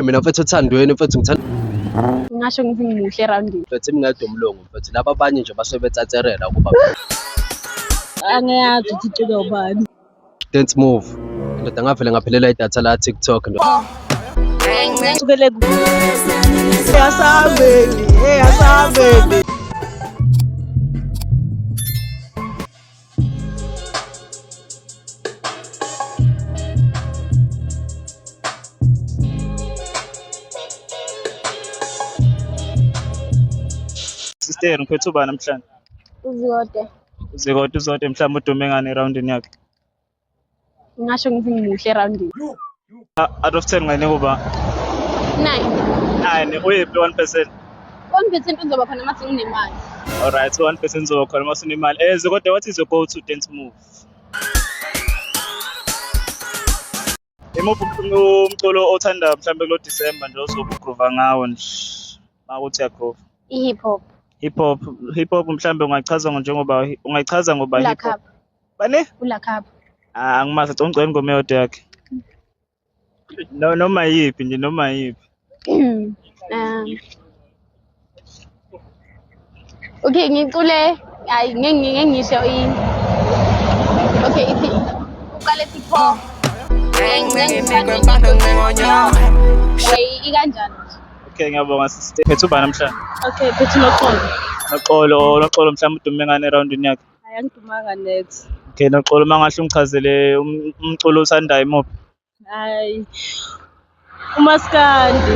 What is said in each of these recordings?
mina mfethu othandweni mfethu ngithanda ngasho ngithi ngimuhle erawundini mfethu imingede umlungu mfethu laba abanye nje basuke betsatsherela ukuba angiyazi ukuthi icike ubani dance move ndoda ngavele ngaphelela idatha la tiktok ndoda sukele ku Yasabeni, hey, yasabeni. Sister, ngiphethe ubani namhlanje? Uzikode. Uzikode uzode mhlawumbe udume ngani erawundini yakhe. ngingasho ngithi ngimuhle erawundini out of ten ngane kuba nine nine uyephi one percent one percent uzoba khona uma senginemali alright one percent uzoba khona uma sinemali eze eh, kodwa what is your go to dance move Imuphi umculo othanda mhlawumbe kulo December nje ozobe ugrova ngawo nje uma uthi uyagrova? I-hip hop. Hip hop, hip hop mhlawumbe ungachaza njengoba ungayichaza ngoba hip hop. Ulakapha. Bani? Ulakapha. Ah, angimazi, ngicela ingoma eyodwa yakhe. No, noma yiphi nje, noma yiphi. um, okay ngicule hayi ngeke ngeke ngisho i okay ithi uqale ethi pho Hey, ikanjani nje? Okay, ngiyabonga sister. Phethu ubani namhlanje? Okay, phethu noxolo. Noxolo, noxolo mhlawumbe udume ngane eroundini yakhe. Hayi angidumanga net. Okay, noxolo mangahle ungichazele um- umculo osandayo imuphi? hayi umaskandi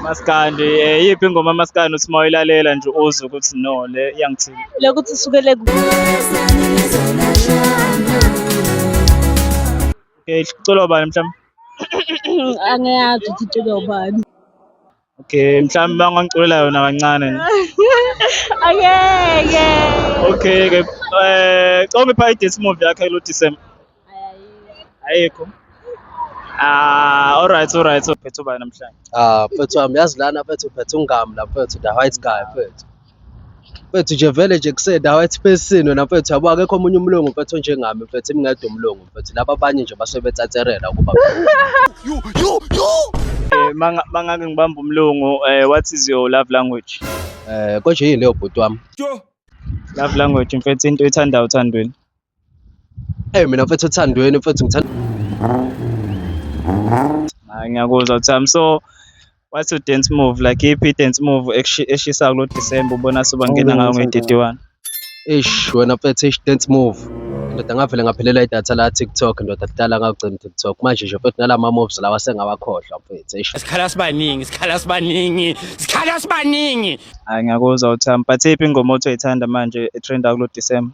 maskandi eh yiphi ingoma maskandi uthi mayilalela nje uzwe ukuthi no le iyangithini lokuthi sukele ku okay iculo bani mhlawumbe angiyazi ukuthi iculo bani Okay, mhlawumbe bangangiculela yona kancane. Angeke. Okay ke. Eh, coma ipha i-dance move yakhe lo December. Ayikho. Ah, all right, all right. So phethu bani namhlanje? Ah, mfethu wami yazi lana mfethu phethu ungami la mfethu the white guy mfethu. Mfethu nje vele nje kusendawo ethi phesini wena mfethu yabo akekho omunye umlungu mfethu onjengami mfethu imngedwa umlungu mfethu laba abanye nje basuke betsatsherela ukuba Eh, manga- mangake ngibambe umlungu eh, what is your love language eh konje yini leyo bhuti wami love language mfethu into ethandayo uthandweni Hey mina mfethu othandweni mfethu ngithanda Hayi ngiyakuzwa Uthami. So what's your dance move? Like iyiphi i-dance move ekushi- eshisayo kulo December ubona sobangena ngayo nge-31? ish wena mfethu ish dance move. Ndoda ngavele ngaphelela idatha la TikTok ndoda kudala ngagcina TikTok. Manje nje mfethu nala ma moves lawa sengawakhohlwa mfethu ish. Sikhala sibaningi, sikhala sibaningi, sikhala sibaningi. Hayi ngiyakuzwa Uthami. But iyiphi ingoma othi uyithanda manje e-trenda kulo December?